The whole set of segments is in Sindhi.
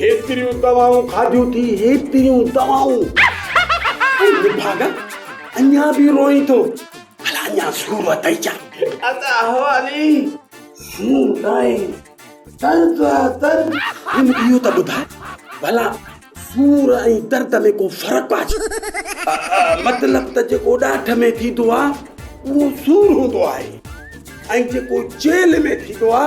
هيتريون دوائون کاڌيون ٿي هيتريون دوائون لفاگا اڃا به روئين ٿو ڀلا اڃا سور اٿئي ڇا ادا حوالي سور ناهي درد آ درد هن اهو ته ٻڌاء ڀلا سور ۽ درد ۾ ڪو فرق آ ڇا مطلب ته جيڪو ڏاٺ ۾ ٿيندو آ اهو سور هوندو آهي ۽ جيڪو جيل ۾ ٿيندو آ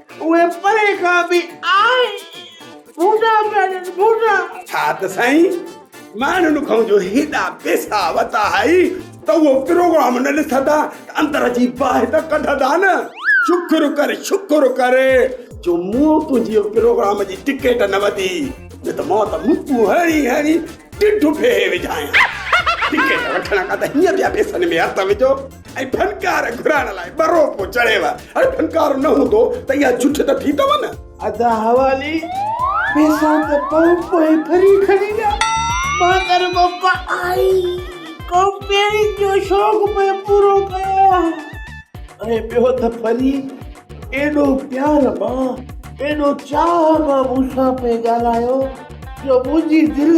اهي پري کان به آهي ڀونڊا پيا ڏين ڀونڊا. ڇا ته سائين ماڻهن کان جو هيڏا پيسا وتا هئي ته اهو پروگرام نه ڏسندا ته اندر جي باهه ته ڪڍندا نه. شڪر ڪر شڪر ڪر جو مون تنهنجي پروگرام جي ٽڪيٽ نه وتي نه ته مان ته مڪون هڻي هڻي ڍڍ ڦيهي وجهانء. ٽڪيٽ وٺڻ کان ته هيئن پيا پيسن ۾ هٿ وجهو. ۽ ڦنڪار گهرائڻ لاء ٻه روپو چڙهيو. هاڻي ڦنڪار نه هوندو ته اها جٺ ته ٿيندو نه. ادا حوالي پيسا ته پنهون پوء ڦري کڻي ويا. مان ڪر بپا آئي ڪمپيئرنگ جو شوق پوء پورو ڪيو آ. ۽ ٻيو ته ڦري ايڏو پيار مان ايڏو چاهه مان مون سان پئي ڳالهايو جو منهنجي دل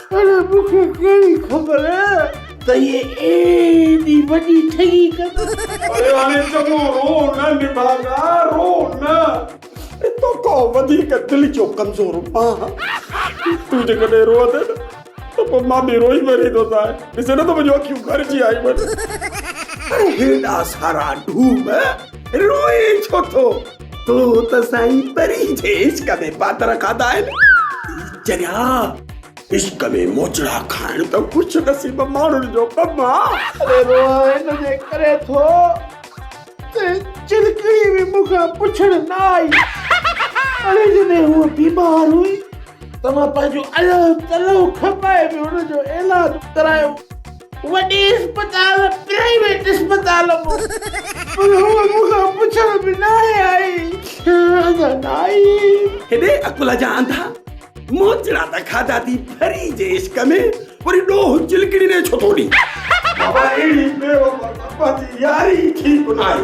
پر مون کي ڪهڙي خبر ته هيء ايڏي وڏي ٺڳي ڪندو. اڙي هاڻي چڱو رو نه نڀاڳا، رو نه. تو کان وڌيڪ دل جو ڪمزور مان آهيان. تون جيڪڏهن روئندين نه ته پوء مان به روئي مريندوسانء. ڏسين نه ته منهنجون اکيون ڀرجي آيون آهن. پر هيڏا سارا ڍوم روئين ڇو ٿو؟ تو ته سائين پرين جي عشق ۾ پاتر کاڌا آهن. اي چريا! عشق ۾ موچڙا کائڻ ته خوش نصيب ماڻهن جو ڪم آ. اري روهان ان جي ڪري ٿو ته چرڪڙي به مون کان پڇڻ نه آئي. اڙي جڏهن هوء بيمار هئي ته مان پنهنجو الهه تلهه کپائي به هن جو علاج ڪرايو. وڏي اسپتال پرائيويٽ اسپتال مان پر هوء مون کان پڇڻ به ناهي آئي ادا نائين. هيڏي عقل جا انڌا موچڙا ته کاڌا ٿي پري جي عشق ۾ وري ڏوهه چلڪڙي ڏي ڇو ٿو ڏي. بابا اهڙي بيوفا ته پنهنجي ياري ئي ٺيڪ ناهي.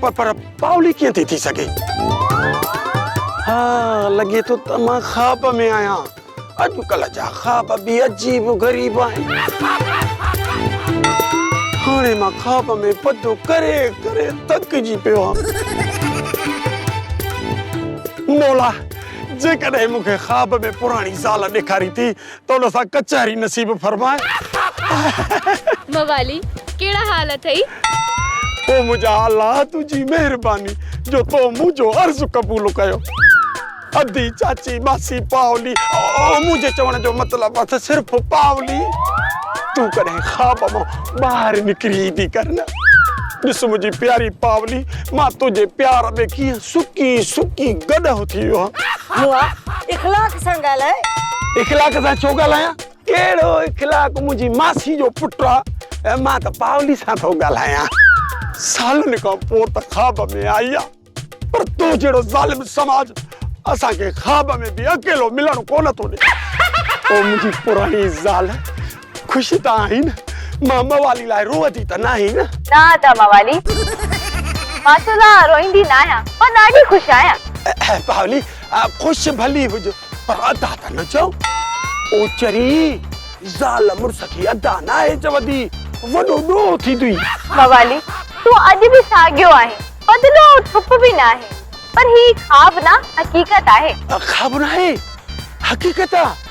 پر پاولي ڪيئن ٿي ٿي سگهي؟ ها لڳي ٿو ته مان خواب ۾ آهيان. اڄڪلهه جا خواب به عجيب و غريب آهن. هاڻي مان خواب ۾ پڌو ڪري ڪري ٿڪجي پيو آهيان. مولا جيڪڏهن مون کي خواب ۾ پراڻي زال ڏيکارين ٿي تون سان ڪچهري نصيب فرماء. موالي ڪهڙا حال اٿئي. او منهنجا الا تنهنجي مهرباني جو تو منهنجو عرض قبول ڪيو. ادي، چاچي، ماسي، پاولي او منهنجي چوڻ جو مطلب اٿ صرف پاولي. تون ڪڏهن خواب مان ٻاهر نڪري ايندي ڪر نه. ڏس منهنجي پياري پاولي مان تنهنجي پيار ۾ ڪيئن سڪي سڪي گڏهه ٿي ويو هان. مون آ اخلاق سان ڳالهاء. اخلاق سان ڇو ڳالهايان؟ ڪهڙو اخلاق منهنجي ماسي جو پٽ آ ۽ مان ته پاولي سان ٿو ڳالهايان. سالن کان پوء ته خواب ۾ آئي آ پر تو جهڙو ظالم سماج اسان کي خواب ۾ به اڪيلو ملڻ ڪونه ٿو ڏي. او منهنجي پراڻي زال خوش ته آهين، مان موالي لاء روئندي ته ناهين نه؟ نه ادا موالي، مان تو لاء روئندي ناهيان، مان ڏاڍي خوش آهيان. پاولي، خوش ڀلي هج، پر ادا ته نه چئو. او چري، زال مڙس کي ادا ناهي چوندي، وڏو ڏوهه ٿيندوئي. موالي، تون اڄ به ساڳيو آهين، بدلو ۽ ٿپ به ناهي، پر هي خواب نه، حقيقت آهي. خواب ناهي، حقيقت آ.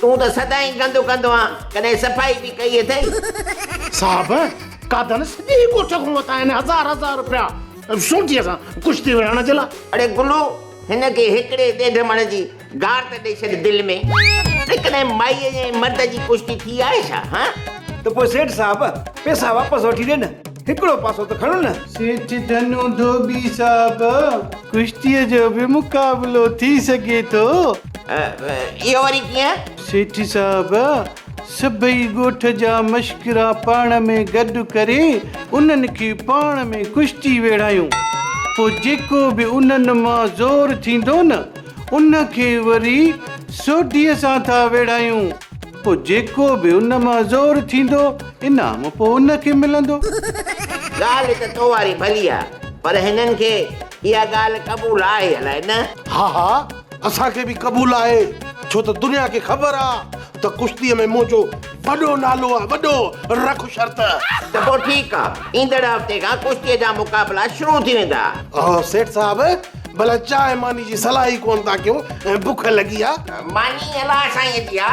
تون ته سدائين گندو ڪندو آن، ڪڏهن صفائي به ڪئي اٿئي؟ صاحب، قادن سڄي ڳوٺ کان ورتا آهن هزار هزار روپيا سوٽيء سان ڪشتي وڙهڻ جي لاء. اڙي گلو، هن کي هڪڙي ڏيڍ مڻ جي گار ته ڏئي ڇڏ دل ۾. اڙي ڪڏهن مائيء جي ۽ مرد جي ڪشتي ٿي آهي ڇا؟ هان؟ ته پوء سيٺ صاحب، پئسا واپس وٺي ڏي نه، هڪڙو پاسو ته کڻ نه. سيٺ ڌنو ڌوٻي صاحب، ڪشتيء جو به مقابلو ٿي سگهي ٿو؟ اهو وري ڪيئن؟ سيٺ صاحب، سڀئي ڳوٺ جا مشڪرا پاڻ ۾ گڏ ڪري انهن کي پاڻ ۾ ڪشتي ويڙهايون. پوء جيڪو به انهن مان زور ٿيندو نه، ان کي وري سوڍيء سان ٿا ويڙهايون. پوء جيڪو به ان مان زور ٿيندو، انعام پوء ان کي ملندو. ڳالهه ته تو واري ڀلي آهي، پر هنن کي اها ڳالهه قبول آهي الائي نه؟ ها ها. اسان کي به قبول آهي ڇو ته دنيا کي خبر آ ته ڪشتيء ۾ منهنجو وڏو نالو آ وڏو رک شرط. ته پوء ٺيڪ آ ايندڙ هفتي کان ڪشتيء جا مقابلا شروع ٿي ويندا. اهو سيٺ صاحب ڀلا چانهه ماني جي صلاح ئي ڪونه ٿا ڪيو ۽ بک لڳي آ. ماني الله سائينء جي آ.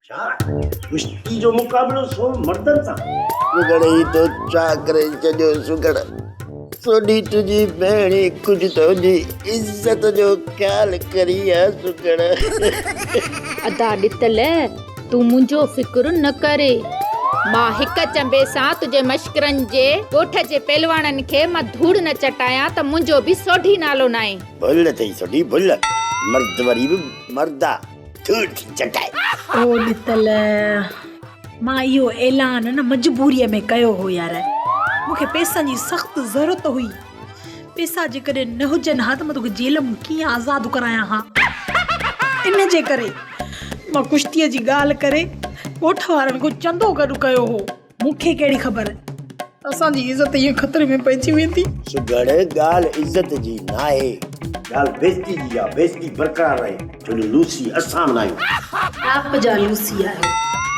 ڇا ڪشتي جو مقابلو سون مردن سان. سگهڙي تو ڇا ڪري ڇڏيو سگهڙ سوڍي تنهنجي ڀيڻي ڪجهه ته تنهنجي عزت جو خيال ڪري ها سگهڙ. ادا ڏتل تون منهنجو فڪر نه ڪري. مان هڪ چنبي سان تنهنجي مشڪرن جي ڳوٺ جي پهلواڻن کي مان ڌوڙ نه چٽايان ته منهنجو به سوڍي نالو ناهي. ڀل اٿئي سوڍي ڀل مرد وري به مرد آ. ڌوڙ ٿي چٽائي. او ڏتل، مان اهو اعلان نه مجبوريء ۾ ڪيو هو يار. مون کي پئسن جي سخت ضرورت هئي. پئسا جيڪڏهن نه هجن ها ته مان توکي جيل مان ڪيئن آزاد ڪرايان ها. ان جي ڪري مان ڪشتيء جي ڳالهه ڪري ڳوٺ وارن کان چندو گڏ ڪيو هو. مون کي ڪهڙي خبر اسان جي عزت ائين خطري ۾ پئجي ويندي. سگهڙ ڳالهه عزت جي ناهي. ڳالهه بيزتي جي آ. بيزتي برقرار رهي ڇو جو لوسي اسان به ناهيون. ٽاپ جا لوسي آهيو.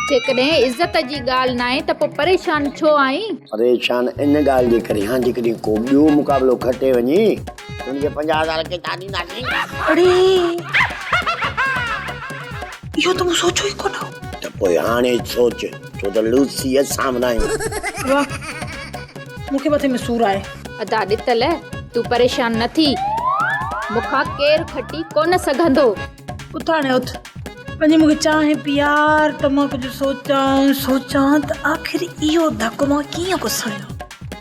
جيڪڏهن عزت جي ڳالهه ناهي ته پوء پريشان ڇو آهين؟ پريشان ان ڳالهه جي ڪري آهيان جيڪڏهن ڪو ٻيو مقابلو کٽي وڃي ته ان کي پنجاهه هزار ڪيترا ڏينداسين؟ اڙي اهو ته مون سوچيو ئي ڪونه هو. ته پوء هاڻي سوچ. ڇو ته لوز سي ايس سامھون آھيون. واھ مون کي مٿي ۾ سور آھي. ادا ڏتل تون پريشان نه ٿي مون کان ڪير کٽي ڪونه سگهندو. اتاڻي اٿ وڃي مون کي چانهه پيار ته مان ڪجهه سوچان سوچان ته آخر اهو ڌڪ مان ڪيئن پسايان.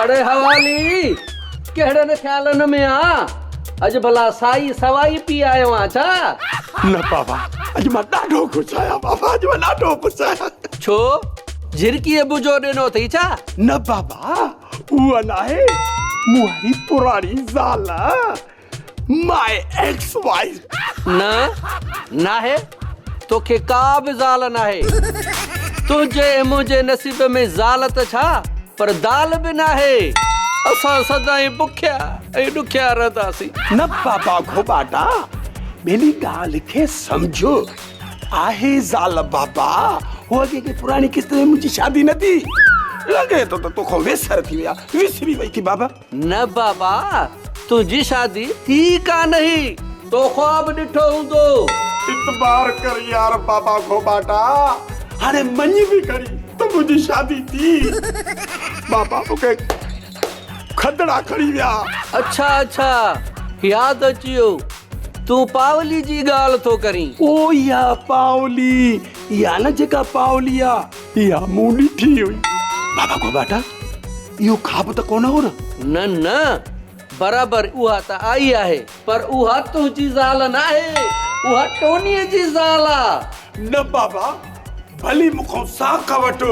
اڙي حوالي ڪهڙن خيالن ۾ آن اڄ ڀلا سائي سوائي پي آيو آن ڇا؟ نه بابا اڄ مان ڏاڍو خوش آهيان بابا اڄ مان ڏاڍو خوش آهيان. ڇو جهرڪي ابو جو ڏنو اٿئي ڇا؟ نه بابا اها ناهي مون واري پراڻي زال. ماء ايڪس وائيف نه ناهي توکي ڪا به زال ناهي تنهنجي ۽ منهنجي نصيب ۾ زال ته ڇا پر دال به ناهي اسان سدائين بکيا ۽ ڏکيا رهنداسين. نه بابا گهوٻاٽا ٻيلي ڳالهه کي سمجهه آهي زال بابا هوء جيڪي پراڻي قسط ۾ منهنجي شادي نه ٿي لڳي ٿو ته توکان ويسر ٿي وئي آهي وسري وئي ٿي بابا. نه بابا تنهنجي شادي ٿي ڪانه هي تو خواب ڏٺو هوندو. اعتبار ڪر يار بابا کان ٻاٽا هاڻي مڃ به کڻي ته منهنجي شادي ٿي بابا مون کي کدڙا کڻي ويا. اڇا اڇا ياد اچي ويو تون پاولي جي ڳالهه ٿو ڪرين. او يا پاولي يا نه جيڪا پاولي آ. اها مون ڏٺي هئي. بابا گوٻاٽا، اهو خواب ته ڪونه هو نه؟ نه نه، برابر اها ته آئي آهي. پر اها تنهنجي زال ناهي، اها ٽونيء جي زال آ. نه بابا، ڀلي مون کان ساک وٺ.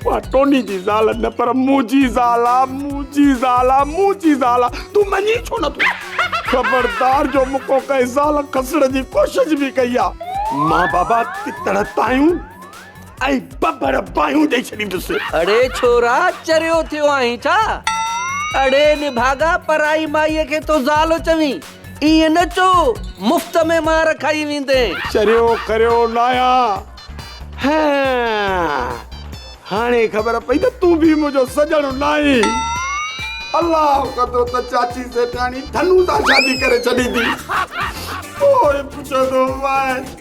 اها ٽونيء جي زال نه پر منهنجي زال آ، منهنجي زال آ، منهنجي زال آ. تون مڃين ڇو نه ٿو؟ خبردار جو مون کان ڪنهن زال کسڻ جي ڪوشش به ڪئي آ. مان بابا ڪتڻ تايون. ۽ ٻٻر باهيون ڏئي ڇڏيندس. اڙي ڇورا چريو ٿيو آهين ڇا؟ اڙي نڀاڳا پرائي مائيء کي ٿو زال چوين؟ ائين نه چو، مفت ۾ مار کائي ويندين. چريو ڪريو ناهيا. هينئن هاڻي خبر پئي ته تون به منهنجو سڄڻ ناهين. الله ڪندو ته چاچي سيٺاڻي ٿنون سان شادي ڪري ڇڏيندي. پوء پڇندو مانس.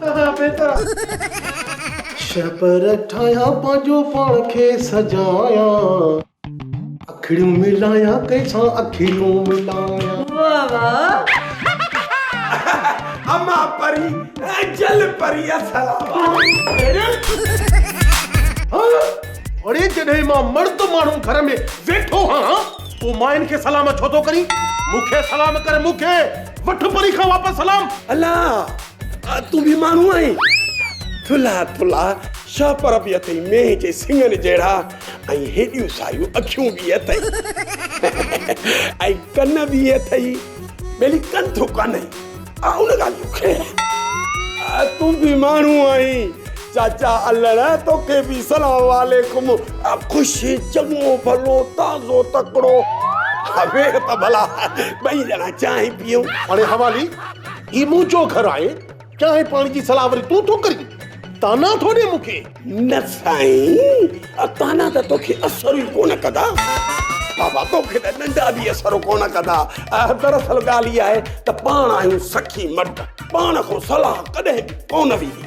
ڪرڻ بهتر آ. شهپر ٺاهيان پنهنجو پاڻ کي سجايان. اکڙيون ملايان ڪنهن سان اکيون ملايان. واه واه. اما پري ۽ جل پري السلام عليڪم. اڙي جڏهن مان مرد ماڻهو گهر ۾ ويٺو هان تون ماين کي سلام ڇو ٿو ڪرين مون کي سلام ڪر مون کي وٺ پري کان واپس سلام. الله تون به ماڻهو آهين ٿلها ٿلها شهه پر به اٿئي مينهن جي سڱن جهڙا ۽ هيڏيون سايون اکيون به اٿئي ۽ ڪن به اٿئي ٻيلي ڪن ٿو ڪانئي آ ان ڳالهه جو خير آ تون به ماڻهو آهين چاچا الڙ توکي به سلام عليڪم خوش چڱو ڀلو تازو تڪڙو ويهه ته ڀلا ٻئي ڄڻا چانهه پيئون هاڻي حوالي هي منهنجو گهر آهي، چانهه پاڻي جي صلاح وري تون ٿو ڪرين، طعنا ٿو ڏين مون کي. نه سائين، طعنا ته توکي اثر ئي ڪونه ڪندا. بابا توکي ته ڏنڊا به اثر ڪونه ڪندا. دراصل ڳالهه اها آهي ته پاڻ آهيون سخي مرد، پاڻ کان صلاح ڪڏهن به ڪونه ويندي.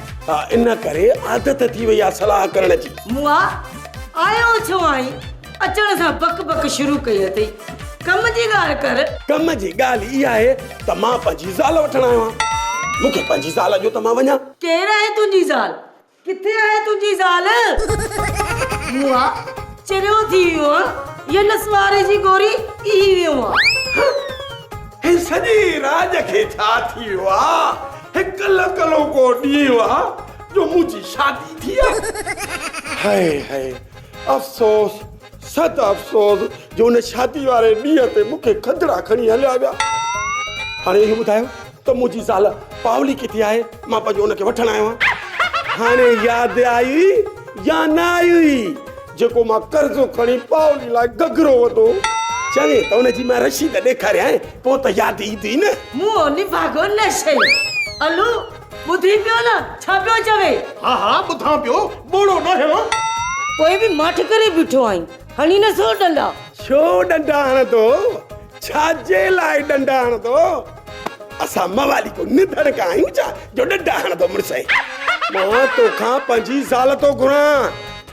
ان ڪري عادت ٿي وئي آهي صلاح ڪرڻ جي. مون آ، آيو ڇو آهين؟ اچڻ سان بڪ بڪ شروع ڪئي اٿئي. ڪم جي ڳالهه ڪر. ڪم جي ڳالهه اها آهي ته مان پنهنجي زال وٺڻ آيو آهيان. مون کي پنهنجي زال ڏيو ته مان وڃان. ڪير آهي تنهنجي زال؟ ڪٿي آهي تنهنجي زال؟ مون آء چريو ٿي ويو آهيان يا نسواري جي گوري ٿي ويو آهيان. هن سڄي راڄ کي ڇا ٿي ويو آهي؟ هڪ لڪلوڪو ڏينهن آهي جو منهنجي شادي ٿي آهي. هاء هاء. افسوس صد افسوس جو ان شادي واري ڏينهن تي مون کي کدڙا کڻي هليا ويا هاڻي اهو ٻڌايو ته منهنجي زال پاولي ڪٿي آهي مان پنهنجو ان کي وٺڻ آيو آهيان هاڻي ياد آئي يا نه آئي جيڪو مان قرضو کڻي پاولي لاء گگرو وڌو چوي ته ان جي مان رشيد ڏيکاريان پوء ته ياد ايندي نه مون نڀاڳو نه سهي الو ٻڌين پيو نه، ڇا پيو چوي؟ ها ها ٻڌان پيو، ٻوڙو نه هڻ. پوء به ماٺ ڪري بيٺو آهين، هڻي نه سگهو ڏنڊا. ڇو ڏنڊا هڻندو، ڇا جي لاء ڏنڊا هڻندو. اسان موالي ڪو نڌڻڪ آهيون ڇا جو ڏنڊا هڻندو مڙسئي. مان تو کان پنهنجي زال ٿو گهران.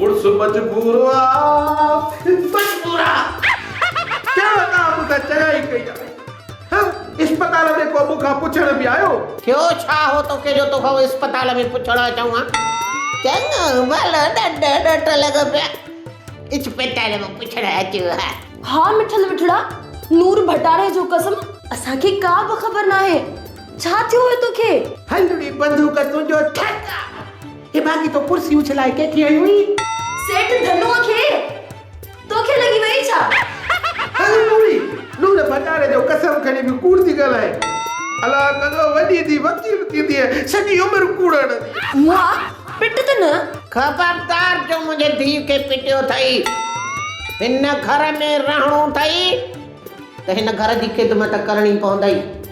مڙس مجبور آ مجبور آ ڪهڙو ڪم مون کان چڱائي ڪئي آ ها اسپتال ۾ ڪو مون کان پڇڻ به آيو. ٿيو ڇا هو توکي جو توکان هو اسپتال ۾ پڇڻ اچون ها چڱو ڀلو ڏڍ ڏٺ لڳو پيا اسپتال مان پڇڻ اچون ها. ها مٺل مٺڙا نور ڀٽاڻي جو قسم اسان کي ڪا به خبر ناهي ڇا ٿيو هو توکي. هنڌڙي بندوق تنهنجو ٺڪ آ. اي ڀاڳي تو ڪرسي اڇلائي ڪنهن کي هنيو هئين؟ سيٺ ڌنوء کي، توکي لڳي ويئي ڇا؟ هل نوري، نور ڀٽاري جو قسم کڻي به ڪوڙ ٿي ڳالهائين. الا ڪندو وڏي ٿي وڪيل ٿيندينء، سڄي عمر ڪوڙ هڻندينء. مئا، پٽ ته نه؟ خبردار جو منهنجي ڌيء کي پٽيو ٿئي، هن گهر ۾ رهڻو ٿئي ته هن گهر جي خدمت ڪرڻي پوندئي.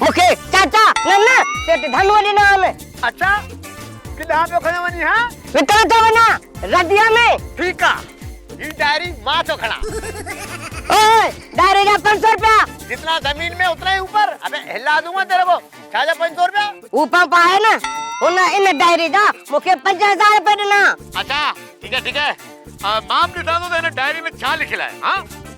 مون کي چاچا نه نه سيٺ ڌنوء ڏنا آهن. اڇا ڪيڏانهن پيو کڻين وڃين ها؟ وڪڻڻ ٿو وڃان رديء ۾. ٺيڪ آ هي ڊائري مان ٿو کڻان. اوء ڊائري جا پنج سو روپيا. جتنا زمين مين اتنا هي اوپر. ابي هلا دونگا تيري ڪو ڇا جا پنج سو روپيا. هو پمپ آهي نه هن ان ڊائري جا مون کي پنج هزار روپيه ڏنا. اڇا ٺيڪ آ ٺيڪ آ مان به ڏسان ٿو ته هن ڊائري ۾ ڇا لکيل آهي ها.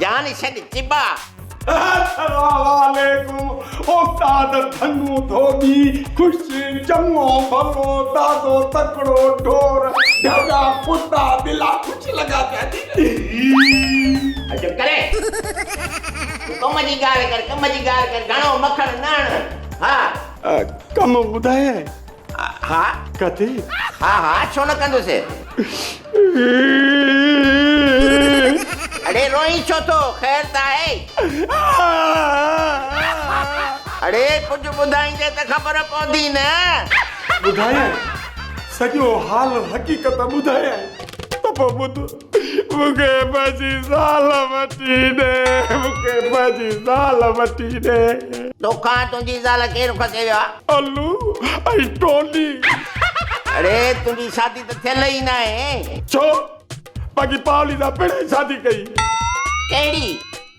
جان ڇڏ چٻا. السلامعليڪم استاد ڌنو ڌوٻي خوشي چڱو ڀلو تازو تڪڙو ڍور ڍڳا ڪتا ٻلا خوش لڳا پيا جي. اي چپ ڪري تون ڪم جي ڳالهه ڪر ڪم جي ڳالهه ڪر گهڻو مکڻ نه هڻ ها. ڪم ٻڌايئي. ها ڪٿي؟ ها ها ڇو نه ڪندس. اڙي روئين ڇو ٿو خير ته آهي. اڙي ڪجهه ٻڌائيندين ته خبر پوندي نه. ٻڌايانء سڄو حال حقيقت ٻڌايانء ته پوء ٻڌ. مون کي پنهنجي زال وٺي ڏي مون کي پنهنجي زال وٺي ڏي. توکان تنهنجي زال ڪير کسي ويو آ. الو ۽ ٽولي. اڙي تنهنجي شادي ته ٿيل ئي ناهي. ڇو باقي پاولينا پڻهين شادي ڪئي. ڪهڙي.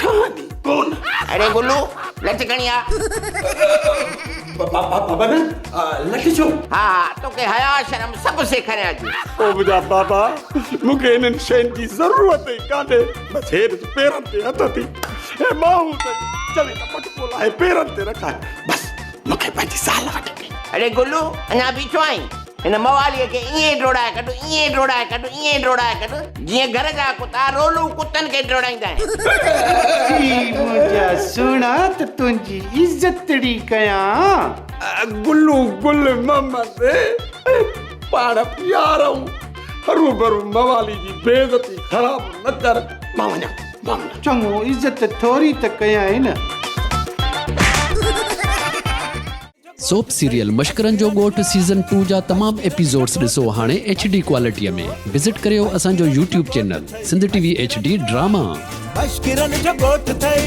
ٺهندي ڪونه. اڙي گلو لٺ کڻي آ. بابا نه لٺ ڇو؟ ها ها توکي حياء شرم سڀ سيکاريان ٿي. او منهنجا بابا مون کي انهن شين جي ضرورت ئي ڪانهي بس هير جي پيرن تي هٿ اٿي هي ٻانهون اٿئي چوي ته پٽڪو لاهي پيرن تي رکائي بس مون کي پنهنجي زال وٺي ڏي. اڙي گلو اڃا بيٺو آهين؟ هن مواليء کي ائين ڊوڙائي ڪڍ، ائين ڊوڙائي ڪڍ، ائين ڊوڙائي ڪڍ، جيئن گهر جا ڪتا رولون ڪتن کي ڊوڙائيندا آهن. سي منهنجا سهڻا ته تنهنجي عزتڙي ڪيان. گلو گل محمد پاڻ پيار ۽ هروڀرو موالي جي بي عزتي خراب نه ڪر. مان وڃان ٿي. ڏاڍو چڱو، عزت ٿوري ته ڪيائين نه. سوپ سيريل مشڪرن جو ڳوٺ سيزن ٽو جا تمام ايپيسوڊس ڏسو هاڻي ايڇ ڊي ڪوالٽيء ۾ وزٽ ڪريو اسان جو YouTube channel Sindh T V H D drama. مشڪرن جو ڳوٺ ٿئي.